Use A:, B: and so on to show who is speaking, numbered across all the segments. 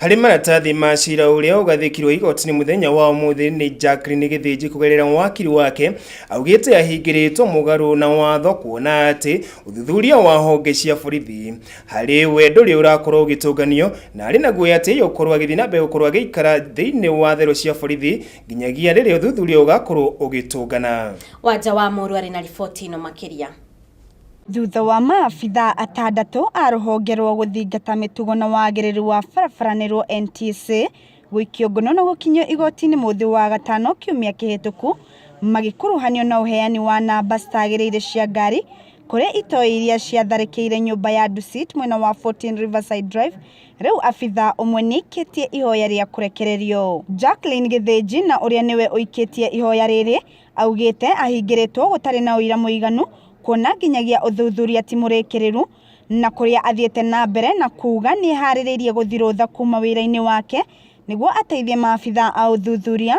A: harĩ maratathi
B: ma cira ũrĩa ũgathĩkirwo igoti-inĩ mũthenya wa ũmũthĩ nĩ Jacqueline Gĩthĩnji kũgerera wakiri wake augĩte ahingĩrĩtwo mũgarũ na watho kuona atĩ ũthuthuria wa honge cia borithi harĩ we ndũrĩ ũrakorwo ũgĩtũnganio na arĩ na guoya atĩ yũkorwo agĩthiĩ na mbere gũkorwo agĩikara thĩinĩ wa therũ cia borithi nginyagia rĩrĩa ũthuthuria ũgakorwo ũgĩtũngana Wanja wa Mũrũ
A: arĩ na riboti ĩno makĩria. Thutha
C: wa maabithaa atandatũ a rũhonge rwa gũthingata mĩtugo na wagĩrĩru wa barabara nĩruo NTSA gũikio ngono na gũkinyio igoti-inĩ mũthĩ wa gatano kiumia kĩhĩtũku magĩkuruhanio na ũheani wa namba citagĩrĩire cia ngari kũrĩ itoi iria ciatharĩkĩire nyũmba ya Dusit mwena wa 14 Riverside Drive, rĩu abithaa ũmwe nĩaikĩtie ihoya rĩa kũrekererio. Jacqueline Gĩthĩnji na ũrĩa nĩwe ũikĩtie ihoya rĩrĩ Augĩte ahingĩrĩtwo gũtarĩ na ũira mũiganu kuona nginyagia ũthuthuria ti mũrĩkĩrĩru na kũrĩa athiĩte na mbere na kuuga nĩeharĩrĩirie gũthirũtha kuma wĩra-inĩ wake nĩguo ateithie maabitha a ũthuthuria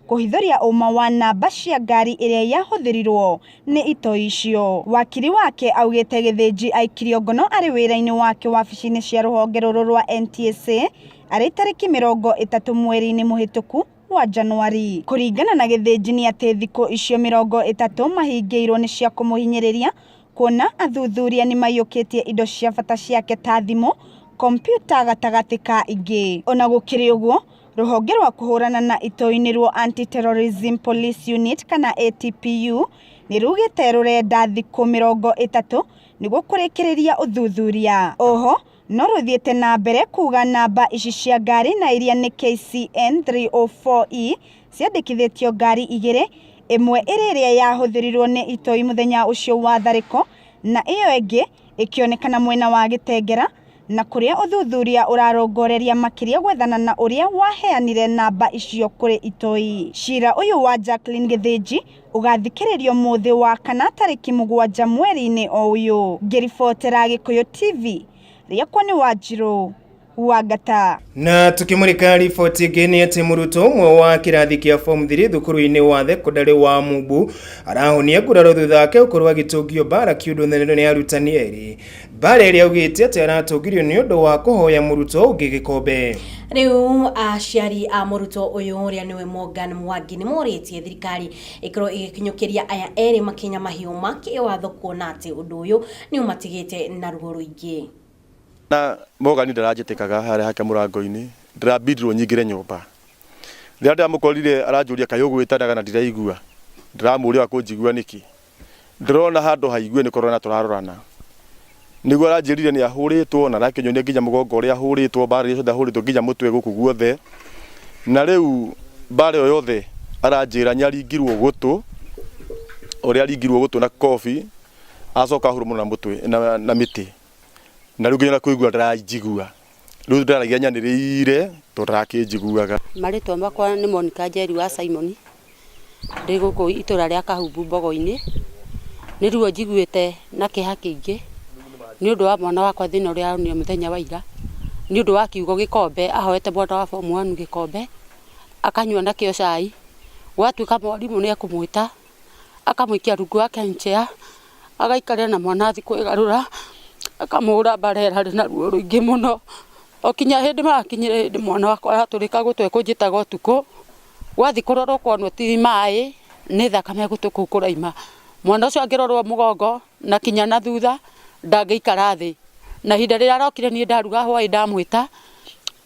C: kũhithũria ũma wa namba cia ngari ĩrĩa yahũthĩrirwo nĩ itoi icio. Wakiri wake augĩte Gĩthĩnji aikirio ngono arĩ wĩra-inĩ wake wabici-inĩ cia rũhonge rũrũ rwa NTSA arĩ tarĩki mĩrongo ĩtatũ mweri-inĩ mũhĩtũku wa Janũari. Kũringana na Gĩthĩnji nĩ atĩ thikũ icio mĩrongo ĩtatũ mahingĩirwo nĩ cia kũmũhinyĩrĩria kuona athuthuria nĩ maiyũkĩtie indo cia bata ciake ta thimũ, kompiuta gatagatĩ ka ingĩ. O na gũkĩrĩ ũguo, rũhonge rwa kũhũrana na itoi-inĩ rũo Anti-Terrorism Police Unit kana ATPU nĩ rugĩte rũrenda thikũ mĩrongo ĩtatũ nĩguo kũrĩkĩrĩria ũthuthuria. Oho, No rũthiĩte na mbere kuuga namba ici cia ngari na iria nĩ KCN 304E ciandĩkithĩtio ngari igĩrĩ, ĩmwe ĩrĩ ĩrĩa yahũthĩrirwo nĩ itoi mũthenya ũcio wa tharĩko na ĩyo ĩngĩ ĩkĩonekana mwena wa Gĩtengera na kũrĩa ũthuthuria ũrarongoreria makĩria gwethana na ũrĩa waheanire namba icio kũrĩ itoi. Cira ũyũ wa Jacqueline Gĩthĩnji Ũgathikĩrĩrio mũthĩ wa kana tarĩki mũgwanja mweri-inĩ o ũyũ. Ngĩribotera Gĩkũyũ TV, rĩakwa nĩ Wanjirũ Wangata. Na tũkĩmũrĩka
B: riboti ĩngĩ nĩ atĩ mũrutwo ũmwe wa kĩrathi kĩa form 3 thukuru-inĩ wa thekondarĩ wa Mumbu arahonia nguraro thutha wake gũkorwo agĩtũngio mbara kĩũndũ nĩ arutani erĩ Bareri augĩte atĩ aratũngirio nĩ ũndũ wa kũhoya mũrutwo ũngĩ gĩkombe. Rĩu
A: aciari a mũrutwo ũyũ ũrĩa nĩwe Morgan Mwangi nĩ morĩtie thirikari ĩkorwo ĩgĩkinyũkĩria aya erĩ makinya mahiũ ma kĩwatho kuona atĩ ũndũ ũyũ nĩ ũmatigĩte na ruo rũingĩ. Na
D: Morgan ndaranjĩtĩkaga harĩa hake mũrango-inĩ, ndĩrabindirwo nyingĩre nyũmba. Rĩrĩa ndĩramũkorire aranjũria kaĩ ũgwĩtanaga na ndiraigua, ndĩramũria wa kũnjigua nĩkĩ. ndĩrona handũ haigue nĩ kũrorana tũrarorana nĩguo aranjĩrire nĩ ahũrĩtwo na arakĩnyonia nginya mũgongo ũrĩa ahũrĩtwo mbara iria ciothe ahũrĩtwo nginya mũtwe gũkũ guothe na rĩu mbara ĩyo yothe aranjĩra nĩ aringirwo gũtũ ũrĩa aringirwo gũtũ na kobi acoka ahurumwo na mũtwe na, na mĩtĩ na rĩu nginya na kũigua ndaranjigua Rĩu ndaragia nyanĩrĩire tondũ ndarakĩnjiguaga. Marĩtwa makwa
E: nĩ Monica Njeri wa Simon, ndĩ gũkũ itũra rĩa Kahumbu Mbogo-inĩ. Nĩ ruo njiguĩte na kĩeha kĩingĩ nĩ ũndũ wa mwana wakwa thĩna ũrĩa onire mũthenya wa ira, nĩ ũndũ wa kiugo gĩkombe, ahoete mwana wa form one gĩkombe akanyua nakĩo cai, gwatuĩka mwarimũ nĩ ekũmwĩta. akamũikia rungu wake chair agaikarĩa na mwana athiĩ kwĩgarũra, akamũhũra mbara ĩrĩa arĩ na ruo rũingĩ mũno. O kinya hĩndĩ makinyire hĩndĩ mwana wakwa aratũrĩka gũtũ ekũnjĩtaga ũtukũ, gwathiĩ kũrorwo ũkonwo ti maĩ nĩ thakame gũtũ kũu kũrauma. Mwana ũcio angĩrorwo mũgongo na kinya na thutha ndangĩikara thĩ. Na ihinda rĩrĩa arokire niĩ ndaruga hwaĩ ndamwĩta.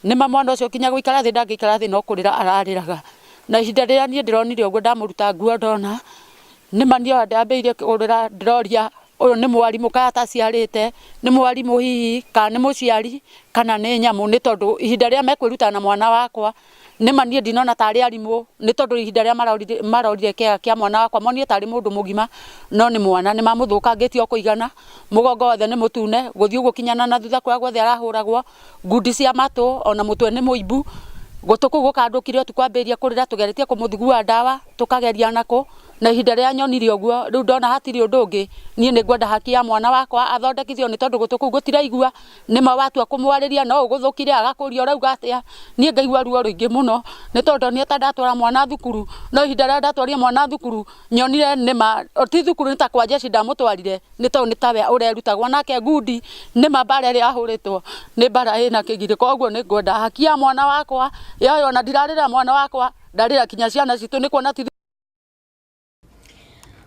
E: Nĩ ma mwana ũcio kinya gũikara thĩ ndangĩikara thĩ no kũrĩra ararĩraga. Na ihinda rĩrĩa niĩ ndĩronire ũguo ndamũruta nguo ndona, nĩ ma niĩ ndambĩrĩirie kũrĩra ndĩroria ũyũ nĩ mwarimũ kana ta aciarĩte, nĩ mwarimũ hihi kana nĩ mũciari kana nĩ nyamũ nĩ tondũ ihinda rĩrĩa mekwĩruta na mwana wakwa, nĩ ma niĩ ndinona ta arĩ arimũ nĩ tondũ ihinda rĩrĩa marorire kĩaga kĩa mwana wakwa monire ta arĩ mũndũ mũgima no nĩ mwana. Nĩ mamũthũkangĩtie o kũigana, mũgongo wothe nĩ mũtune, gũthiĩ ũguo kinya na na thutha kũrĩa guothe arahũragwo ngundi cia matũ ona mũtwe nĩ mũimbu gũtũ kũu gũkandũkire ũtukũ ambĩrĩria kũrĩra tũgeretie kũmũthugua ndawa tũkageria nakũ na ihinda rĩrĩa nyonire ũguo rĩu ndona hatirĩ ũndũ ũngĩ niĩ nĩ ngwenda haki ya mwana wakwa athondekithio nĩ tondũ gũtũ kũu gũtiraigua nĩma watua kũmwarĩria no ũgũthũkire agakũria ũrauga atĩa niĩ ngaigua ruo rũingĩ mũno nĩ tondũ ndonire ta ndatwara mwana thukuru no ihinda rĩrĩa ndatwarire mwana thukuru nyonire nĩma ti thukuru nĩ ta kwa jeshi ndamũtwarire nĩ tondũ nĩ tawe ũrerutagwo nake ngundi nĩ ma mbara ĩrĩa ahũrĩtwo nĩ mbara ĩna kĩgirĩ koguo nĩ ngwenda haki ya mwana wakwa yoyo ona ndirarĩra mwana wakwa ndarĩra kinya ciana citũ nĩ kuona ti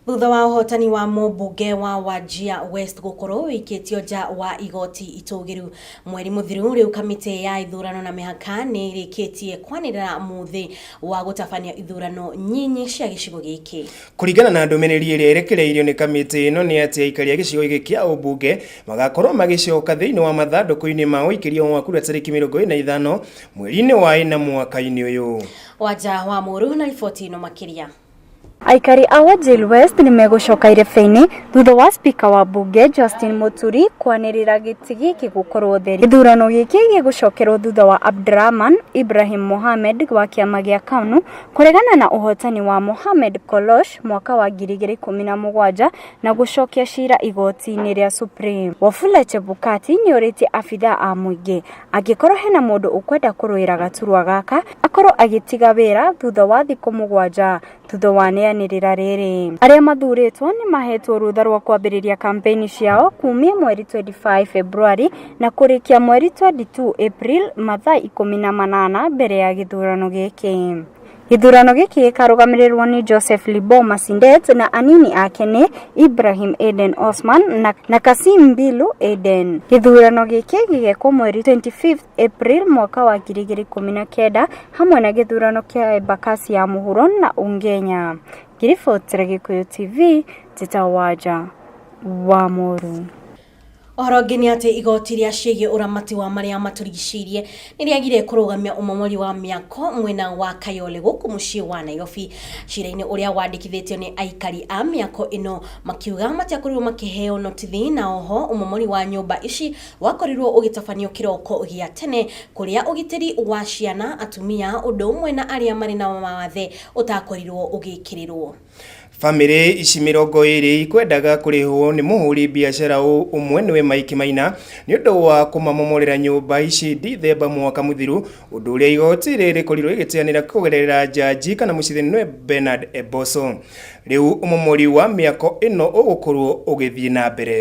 A: Thutha wa ũhotani wa mũmbunge wa Wajia West gũkorwo ũikĩtio nja wa igoti itũgĩru mweri mũthiru, rĩu kamĩtĩ ya ithurano na mĩhaka nĩ ĩrĩkĩtie kwanĩrĩra mũthĩ wa gũtabania ithurano nyinyi cia gĩcigo gĩkĩ. Kũringana na ndũmĩrĩri
B: ĩrĩa ĩrekereirio nĩ kamĩtĩ ĩno nĩ atĩ aikari a gĩcigo gĩkĩ kĩa ũmbunge magakorwo magĩcoka thĩinĩ wa mathandũkũ-inĩ ma ũikĩrio wa kura tarĩki mĩrongo ĩrĩ na ithano mweri-inĩ wa ĩna mwaka-inĩ ũyũ. Wanja wa Mũrũ
A: na riboti ĩno makĩria. Aikari
C: a Wajir West nĩ megũcoka irebe-inĩ thutha wa spika wa mbunge Justin Muturi kwanĩrĩra gĩtĩ gĩkĩ gũkorwo theri. Gĩthurano gĩkĩ gĩgũcokerwo thutha wa Abdrahman Ibrahim Mohamed wa kĩama gĩa KANU Kũregana na ũhotani wa Mohamed Kolosh mwaka wa 2017 na gũcokia cira igoti-inĩ rĩa Supreme, Wafula Chebukati nĩorĩtie abithaa a mũingĩ angĩkorwo hena mũndũ ũkwenda kũrũĩra gaturwa gaka akorwo agĩtiga wĩra thutha wa thikũ mũgwanja thutha wa neanĩrĩra rĩrĩ. Arĩa mathurĩtwo nĩmahetwo rũtha rwa kwambĩrĩria kampeni ciao kumia mweri 25 Februari na kũrĩkia mweri 22 April mathaa ikũmi na manana mbere ya gĩthurano gĩkĩ. Gĩthurano gĩkĩ gĩkarũgamĩrĩrwo nĩ Joseph Libo Masindet na anini ake nĩ Ibrahim Eden Osman na, na Kasim Bilu Eden. Gĩthurano gĩkĩ gĩgekwo mweri 25 April mwaka wa 2019 hamwe na gĩthurano kĩa Embakasi ya mũhuro na Ungenya. Ngiribotire Gĩkũyũ TV, Njĩta Wanja, Wamoru. Ũhoro
A: ũngĩ nĩ atĩ igoti rĩa ciĩgiĩ ũramati wa marĩa matũrigicĩirie nĩ rĩagire kũrũgamia ũmomori wa mĩako mwena wa Kayole gũkũ mũciĩ wa Nairobi. Cira-inĩ ũrĩa wandĩkithĩtio nĩ aikari a mĩako ĩno makiuga matiakorirwo makĩheo notithi na oho ũmomori wa nyũmba ici wakorirwo ũgĩtabanio kĩroko gĩa tene kũrĩa ũgitĩri wa ciana, atumia ũndũ ũmwe na arĩa marĩ na mawathe ũtakorirwo ũgĩkĩrĩrwo. Famĩrĩ
B: ici mĩrongo ĩrĩ ikwendaga kũrĩhwo nĩ mũhũri biacara ũ- ũmwe nĩwe Mike Maina nĩ ũndũ wa kũmamomorera nyũmba ici Dithemba mwaka mũthiru, ũndũ ũrĩa igoti rĩrĩ rĩkorirwo rĩgĩteanĩra kũgerera njanji kana mũcirithania nĩwe Bernard Eboso. Rĩu ũmomori wa mĩako ĩno ũgũkorwo ũgĩthiĩ na mbere.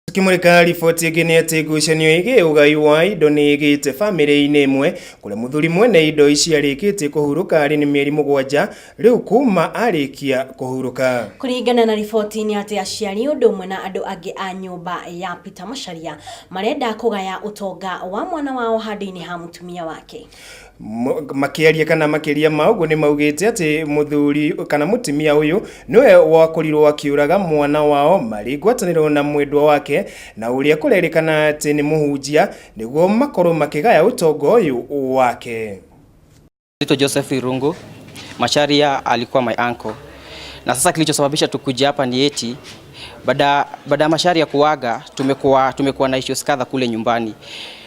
B: Tukimurika riboti ĩngĩ nĩ atĩ ngucanio ĩgĩ ũgai wa indo nĩ ĩgĩte famĩlĩ-inĩ ĩmwe kũrĩa mũthuri mwene indo ici arĩkĩtie kũhurũka arĩ nĩ mĩeri mũgwanja rĩu kuma arĩkia kũhurũka. Kũringana na riboti
A: nĩ atĩ aciari ũndũ ũmwe na andũ angĩ a nyũmba ya Peter Macharia marenda kũgaya ũtonga wa mwana wao handũ-inĩ ha mũtumia wake. Mo- makĩaria kana makĩria ma ũguo nĩ maugĩte atĩ mũthuri kana mũtumia ũyũ nĩwe wakorirwo akĩũraga mwana wao marĩ ngwatanĩro na mwendwa wake na ũrĩa kũrerĩkana atĩ nĩ mũhunjia nĩguo makorwo makĩgaya ũtonga ũyũ wake Naitwa
F: Joseph Irungu. Macharia alikuwa my uncle. Na sasa kilichosababisha tukuje hapa ni eti baada baada ya Macharia kuaga tumekuwa tumekuwa na issues kadha kule nyumbani.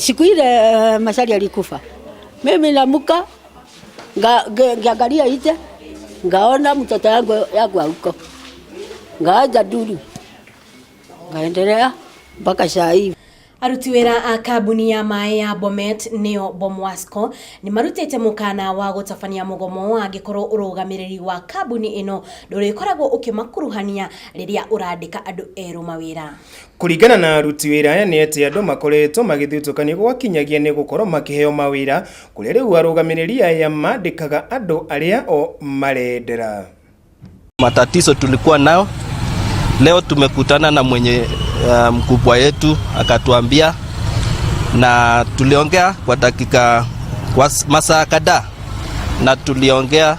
G: Siku ile eh, Masari alikufa, mimi namuka nga- nge- ngiangalia nje, ngaona mtoto yangu yangu huko, ngaaja duru, ngaendelea mpaka saa hii.
A: aruti wira a kambuni ya maĩ ya bomet nĩyo bomwasco nĩ marutĩte mũkana wa gũtabania mũgomo wa angĩkorwo ũrũgamĩrĩri wa kambuni ĩno ndũrĩkoragwo ũkĩmakuruhania rĩrĩa ũrandĩka andũ erũ mawĩra Kũringana na
B: aruti wĩra aya nĩ atĩ andũ makoretwo magĩthutũkanio gwakinyagia nĩ gũkorwo makĩheo mawĩra, kũrĩa rĩu arũgamĩrĩri aya mandĩkaga andũ arĩa o marendera.
H: Matatizo tulikuwa nayo leo, tumekutana na mwenye uh, mkubwa yetu akatuambia, na tuliongea kwa dakika kwa masaa kadhaa, na tuliongea